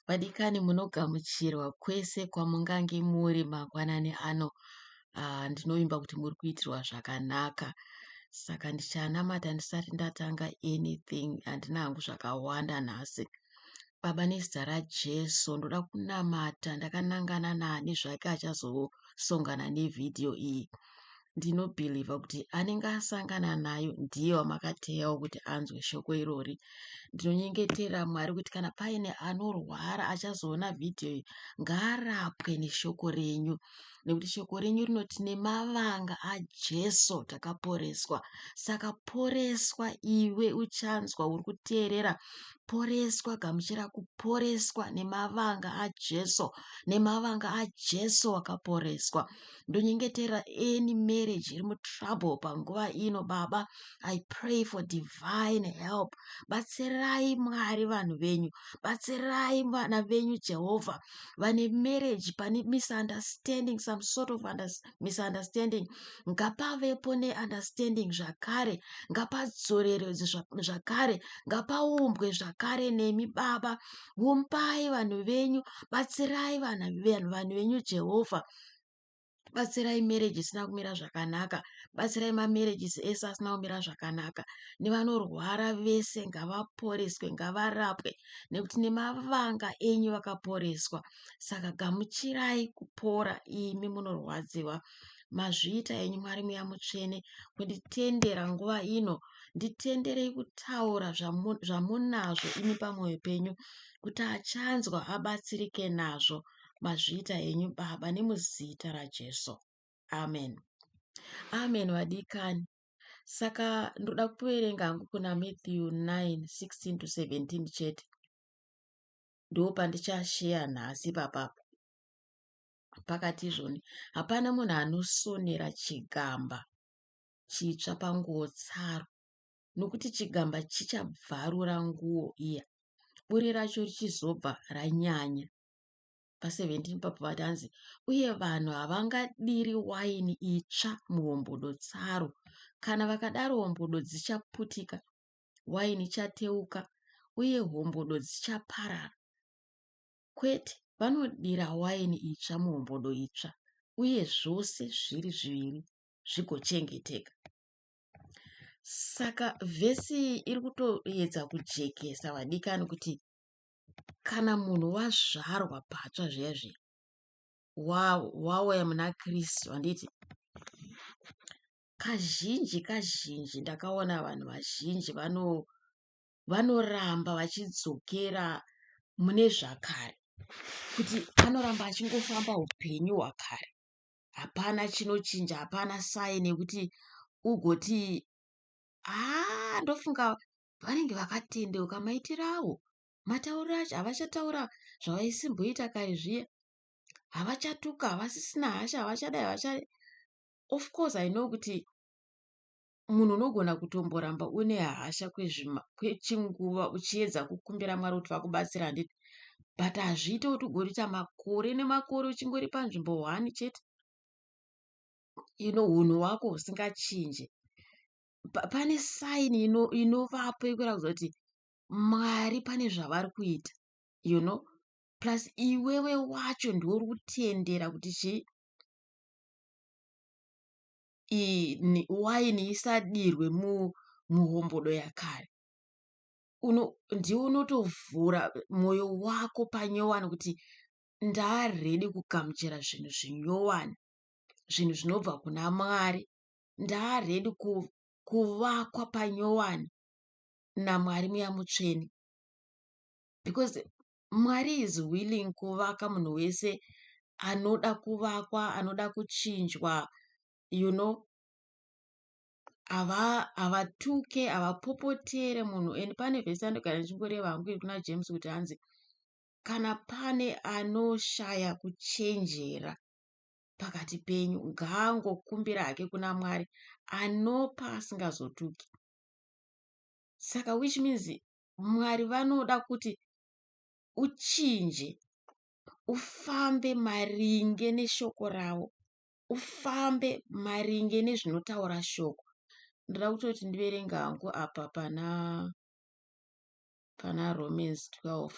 Vadikani munogamuchirwa kwese kwamungange muri mangwanani ano. Ah, ndinovimba kuti muri kuitirwa zvakanaka. Saka ndichanamata ndisati ndatanga anything. Handina hangu zvakawanda nhasi. Baba nezita raJesu ndoda kunamata ndakanangana nani zvake achazosongana nevhidhiyo iyi. ndinobhilivha kuti anenge asangana nayo ndiye wamakateyawo kuti anzwe shoko irori ndinonyengetera mwari kuti kana paine anorwara achazoona vhidhiyo iyi ngaarapwe neshoko renyu nekuti shoko renyu rinoti nemavanga ajesu takaporeswa saka poreswa iwe uchanzwa uri kuteerera poreswa gamuchira kuporeswa nemavanga ajesu nemavanga ajesu wakaporeswa ndonyengetera any marriage iri mutrouble panguva ino baba i pray for divine help batsirai mwari vanhu venyu batsirai vana venyu jehovha vane marriage pane misunderstanding some sort of misunderstanding ngapavepo neunderstanding zvakare ngapadzorerwe zvakare ngapaumbwe zvakare nemi baba vumbai vanhu venyu batsirai vanhu venyu jehovha batsirai marriage isina kumira zvakanaka batsirai mamarriages ese asina kumira zvakanaka nevanorwara vese ngavaporeswe ngavarapwe nekuti nemavanga enyu vakaporeswa saka gamuchirai kupora imi munorwadziwa mazviita enyu mwari muya mutsvene kunditendera nguva ino nditenderei kutaura zvamunazvo imi pamwoyo penyu kuti achanzwa abatsirike nazvo mazviita henyu baba nemuzita rajesu amen amen vadikani saka ndoda kuverenga hangu kuna matthew 916 to 17 chete ndo pandichasheya nhasi papapo pakati izvoni hapana munhu anosonera chigamba chitsva panguo tsaro nokuti chigamba chichabvarura nguo iya buri racho richizobva ranyanya pa 17 ipapo vati hanzi uye vanhu havangadiri waini itsva muhombodo tsaro kana vakadaro hombodo dzichaputika waini ichateuka uye hombodo dzichaparara kwete vanodira waini itsva muhombodo itsva uye zvose zviri zviviri zvigochengeteka saka vhesi iri kutoedza kujekesa vadikani kuti kana munhu wazvarwa patsva zviya zviya wauya muna Kristu handiti kazhinji kazhinji ndakaona vanhu vazhinji vano vanoramba vachidzokera mune zvakare kuti anoramba achingofamba upenyu hwakare hapana chinochinja hapana saini yekuti ugoti haa ah, ndofunga vanenge vakatendeuka maitiro avo matauriro acho havachataura zvavaisimboita kare zviya havachatuka havasisina hasha havachadai havachadai of course i know kuti munhu unogona kutomboramba une hasha kwechinguva uchiedza kukumbira mwari kuti vakubatsira handiti but hazviite kuti ugorita makore nemakore uchingori panzvimbo one chete ino unhu wako usingachinje pane sign inovapo yekuratidza kuti Mwari pane zvavari kuita you know plus iwewe wacho ndiwe uri kutendera kuti chii waini isadirwe muhombodo yakare ndiwe unotovhura mwoyo wako panyowani kuti ndaredi kugamuchira zvinhu zvinyowani zvinhu zvinobva kuna mwari ndaa redu kuvakwa panyowani namwari muya mutsvene because mwari is willing kuvaka munhu wese anoda kuvakwa anoda kuchinjwa you know havatuke ava havapopotere munhu and pane vese andogara ndichingoreva hangu iri kuna james kuti hanzi kana pane anoshaya kuchenjera pakati penyu ngaangokumbira hake kuna mwari anopa asingazotuki saka which means mwari vanoda kuti uchinje ufambe maringe neshoko ravo ufambe maringe nezvinotaura shoko ndoda kutoti ndiverenge hangu apa pana pana romans 12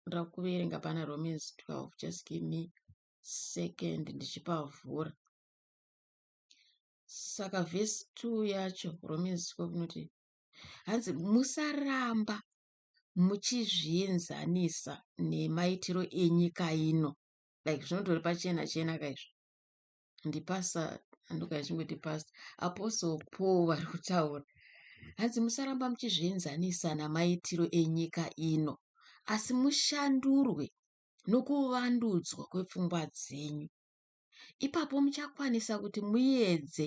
ndoda kuverenga pana romans 12 just give me second ndichipavhura saka vhesi two yacho romans ko kunoti hanzi musaramba muchizvienzanisa nemaitiro enyika ino like zvinotori pachena chena kaizvo ndipasa andokaachingoti past apostle paul vari kutaura hanzi musaramba muchizvienzanisa namaitiro enyika ino asi mushandurwe nokuvandudzwa kwepfungwa dzenyu. Ipapo muchakwanisa kuti muedze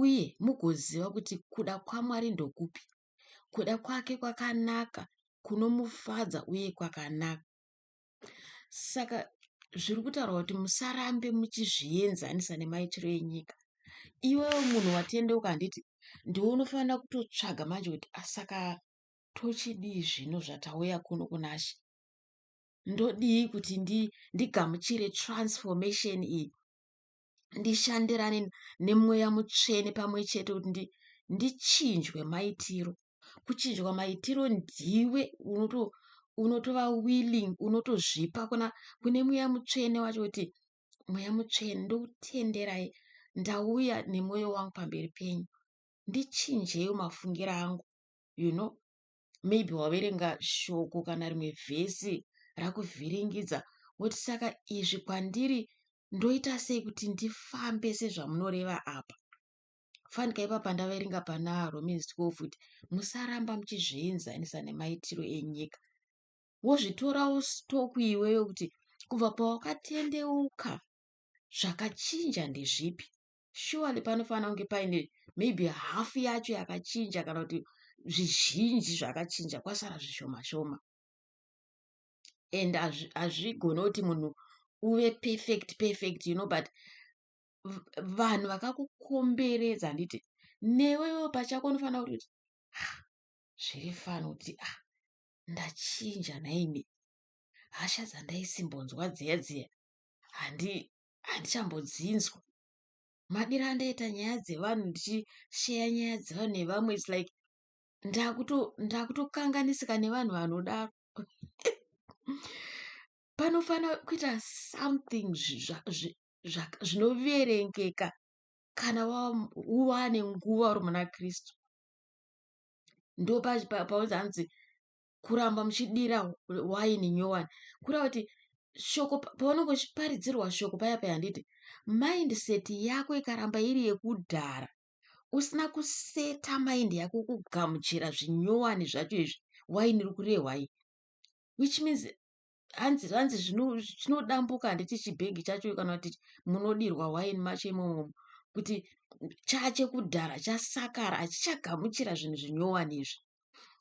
uye mugoziva kuti kuda kwaMwari ndokupi, kuda kwake kwakanaka, kunomufadza uye kwakanaka. Saka zviri kutaurwa kuti musarambe muchizvienzanisa nemaitiro enyika. Iwewe munhu watendeuka handiti ndiwe unofanira kutotsvaga manje kuti asaka tochidii zvino zvatauya kuno kunashe ndodii kuti ndi, ndigamuchire transformation iyi ndishandirane nemweya mutsvene pamwe chete kuti ndi, ndichinjwe maitiro kuchinjwa maitiro ndiwe unoto unotova willing unotozvipa kuna kune mweya mutsvene wacho kuti mweya mutsvene ndokutenderai ndauya nemwoyo wangu pamberi penyu ndichinjeyo mafungiro angu you know maybe waverenga shoko kana rimwe vhesi rakuvhiringidza woti saka izvi kwandiri ndoita sei kuti ndifambe sezvamunoreva apa fanika ipapa ndaverenga pana romans 12 kuti musaramba muchizvienzanisa nemaitiro enyika wozvitorawo stoku iwewe kuti kubva pawakatendeuka zvakachinja ndezvipi surely panofanira kunge paine maybe half yacho yakachinja kana kuti zvizhinji zvakachinja kwasara zvishoma shoma and hazvigone kuti munhu uve perfect perfect you know but vanhu vakakukomberedza handiti newewo pachako unofanira kuti kuti ah, zviri fani kuti a ah, ndachinja nhaimi hasha dzandaisimbonzwa dziya dziya handi handichambodziinzwa. Madiro andaita nyaya dzevanhu ndichisheya nyaya dzevanhu nevamwe its like ndakutokanganisika nevanhu vanodaro panofanira kuita something zvinoverengeka kana waane nguva uri muna kristu ndopaunzi hanzi kuramba muchidira waini nyowani kureva kuti shoko paunenge uchiparidzirwa shoko paya paya handiti mindset yako ikaramba iri yekudhara usina kuseta mind yako kugamuchira zvinyowani zvacho izvi waini iri kurehwai which means hanzi hanzi chinodambuka handiti chibhegi chacho kana kuti munodirwa waini macho imomo kuti chache kudhara chasakara hachichagamuchira zvinhu zvinyowani izvi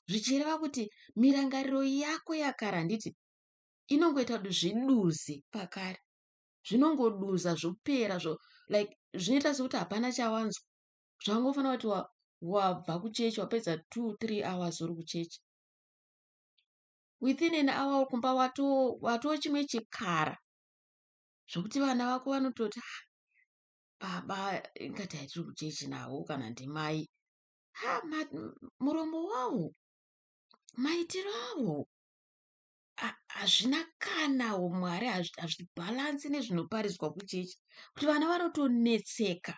zvichireva kuti mirangariro yako yakare handiti inongoita kuti zviduze pakare zvinongoduza zvopera zvo like zvinoita sekuti hapana chawanzwa zvangofanira kuti wabva kuchechi wapedza two three hours uri kuchechi within an hour kumba watoo chimwe chikara zvokuti vana vako vanototi ha baba ingatai tiri kuchechi navo kana ndimai ha muromo wavo maitiro avo hazvina kana umwari hazvibhalansi nezvinoparidzwa kuchechi kuti vana vanotonetseka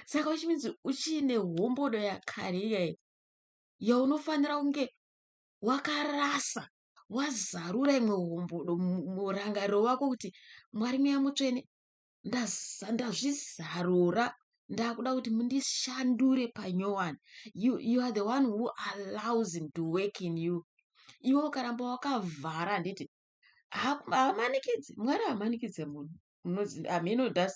saka uchiminzi uchiine hombodo yakare iyayi yaunofanira kunge wakarasa wazarura imwe hombodo murangariro wako kuti mwari mweya mutsvene ndazvizarura ndakuda kuti mundishandure panyowani you, you are the one who allows him to work in you iwe ukaramba wakavhara handiti hamanikidzi mwari hamanikidze munhu hameno thats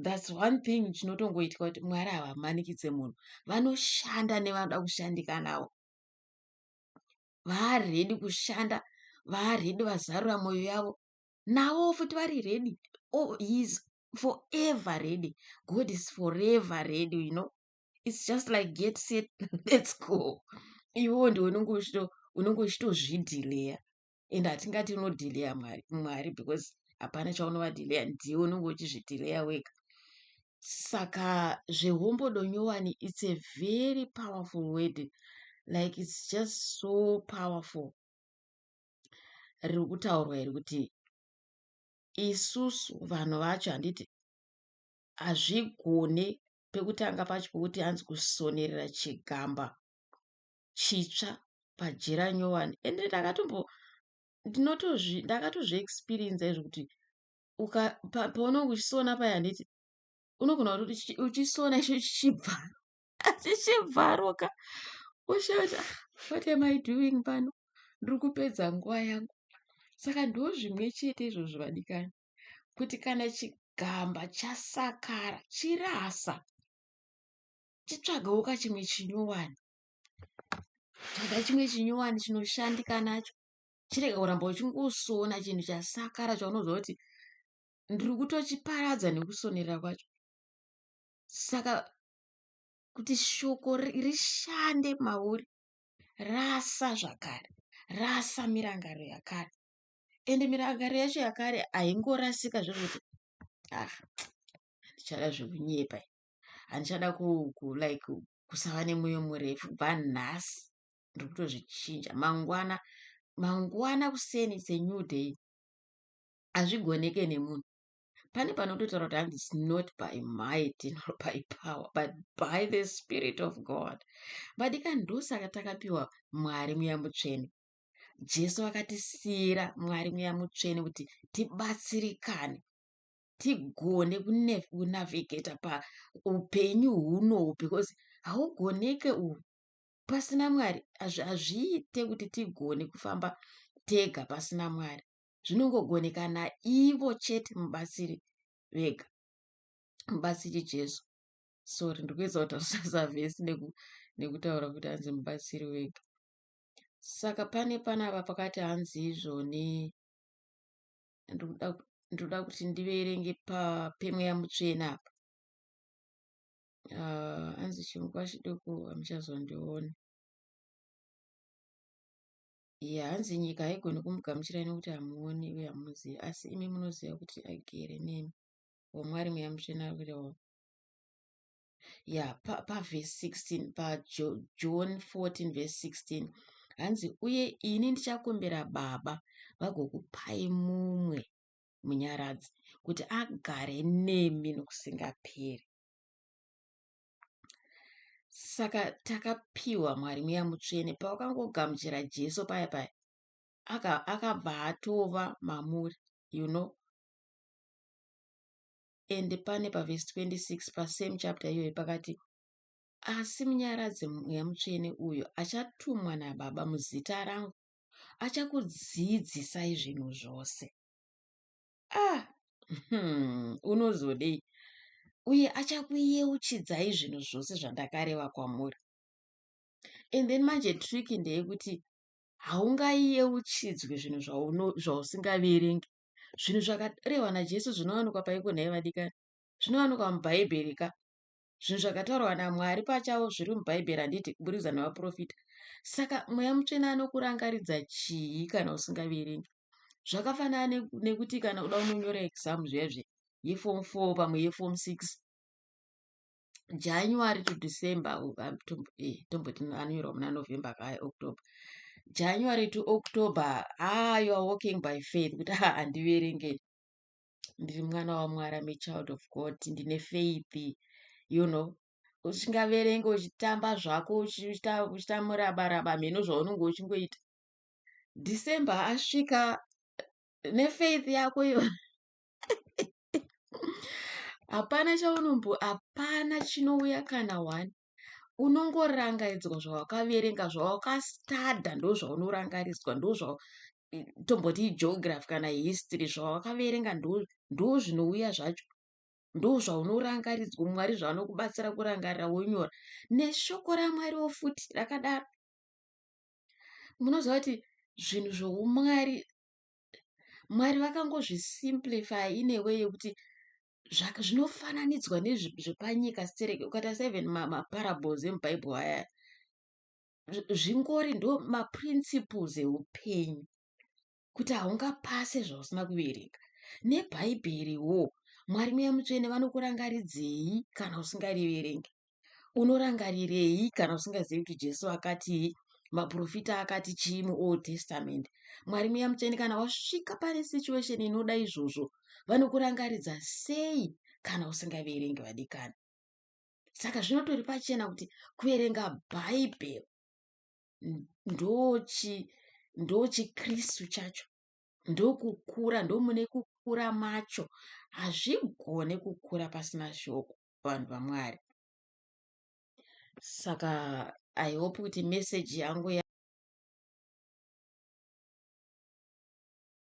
thats one thing chinotongoitwa kuti mwari havamanikidze munhu vanoshanda nevanoda kushandika navo vaaredi kushanda vaaredi vazarura mwoyo yavo navo futi vari redi oh, heis forever redi god is forever redi you know its just like get set lets go iwewo ndiwe unenge uchito unenge uchitozvidhileya and hatingati unodhileya mwari mwari because hapana chaunovadhileya ndiye unenge uchizvidhileya wega saka zvehombodo nyowani its a very powerful word like its just so powerful riri kutaurwa iri kuti isusu vanhu vacho handiti hazvigone pekutanga pacho pokuti anzi kusonerera chigamba chitsva pajira nyowani ende ndakatombo ndinotozvi ndakatozvi experiencer izvo kuti uka paunenge uchisona paya handiti unogona kuti uchisona icho chichibva chichibvaroka woshaya ah, what am i doing pano ndiri kupedza nguva yangu saka ndo zvimwe chete izvozvo vadikani kuti kana chigamba chasakara chirasa chitsvagawo kachimwe chinyowani tsvaga chimwe chinyowani chinoshandika nacho chirega kuramba uchingosona chinhu chasakara chaunoziva kuti ndiri kutochiparadza nekusonera kwacho saka kuti shoko rishande mauri rasa zvakare rasa mirangaro yakare ende mirangaro yacho yakare haingorasika zvekuti ah handichada zvekunyepa handichada kulike kusava nemoyo murefu bva nhasi ndiri kutozvichinja mangwana mangwana kuseni its a new day hazvigoneke nemunhu pane panototaura kuti hanzi its not by might nor by power but by the spirit of god vadika ndosaka takapiwa mwari muya mutsvene jesu vakatisiyira mwari muya mutsvene kuti tibatsirikane tigone kunavigeta paupenyu hunohu because haugoneke uhu pasina mwari hazviite kuti tigone kufamba tega pasina mwari zvinongogoneka naivo chete mubatsiri vega mubatsiri jesu sorry ndikuedza kutarisa zavhesi nekutaura kuti hanzi mubatsiri wega saka pane panapa pakati hanzi izvo ne ndinoda kuti ndiverenge pemweya mutsvene apa ah, anzi chinguva chidoko hamuchazondiona ye hanzi nyika haigoni kumugamuchirai nokuti hamuoni uye hamuzivi asi imi munoziva kuti agere nemi wamwari mweya mutsvene ari kurewa ya pavhesi pa 16 pajoni 14 vhesi 16 hanzi uye ini ndichakumbira baba vagokupai mumwe munyaradzi kuti agare nemi nokusingaperi saka takapiwa mwari mweya mutsvene pawakangogamuchira jesu paya paya akabva atova mamuri you know and pane pavhesi 26 pasame chapter iyoyo pakati asi munyaradzi mweya mutsvene uyo achatumwa nababa muzita rangu achakudzidzisai zvinhu zvose ah hmm, unozodei uye achakuyeuchidzai zvinhu zvose zvandakareva kwamuri and then manje trick ndeyekuti haungayeuchidzwi zvinhu zvausingaverengi Zvinhu zvakarehwa naJesu zvinowanikwa paiko nhai vadikani? Zvinowanikwa muBhaibheri ka. Zvinhu zvakataurwa naMwari pachavo zviri muBhaibheri handiti kuburikidza navaprofita. Saka mweya mutsvene anokurangaridza chii kana usingaverengi? Zvakafanana ne- nekuti kana uda unonyora exam zviya zviya yeform 4 pamwe yeform 6 january to december eh, tomboti anonyorwa muna november kaya october january to october ah you are walking by faith kuti ha ah, handiverenge ndiri mwana wamwari am a child of god ndine faith you know usingaverenge uchitamba zvako uchita murabaraba mheno zvaunenge uchingoita december asvika nefaith yako iyo hapana chaunombo hapana chinouya kana one unongorangaidzwa zvawakaverenga zvawakastada ndozvaunorangaridzwa ndozva tomboti geography kana history zvawakaverenga ndozvinouya zvacho ndozvaunorangaridzwa mwari zvaanokubatsira kurangarira wonyora neshoko ramwariwo futi rakadaro munoziva kuti zvinhu zvoumwari Mwari vakangozi simplify in a way yekuti zvinofananidzwa nezvepanyika stereki ukatarisa even maparables emubible aya zvingori ndo maprinciples eupenyu kuti haungapase zvausina kuverenga nebhaibheri wo mwari muya mutsvene vanokurangaridzei kana usingariverenge Unorangarirei kana usingazivi kuti Jesu akatii, maporofita akati chii muOld Testament? Mwari Mweya Mutsvene kana wasvika pane situation inoda izvozvo, vanokurangaridza sei kana usingaverengi vadikani? Saka zvinotori pachena kuti kuverenga Bhaibheri ndochi ndochikristu chacho ndokukura ndomune kukura macho hazvigone kukura pasina shoko vanhu vaMwari. Saka I hope kuti message yangu ya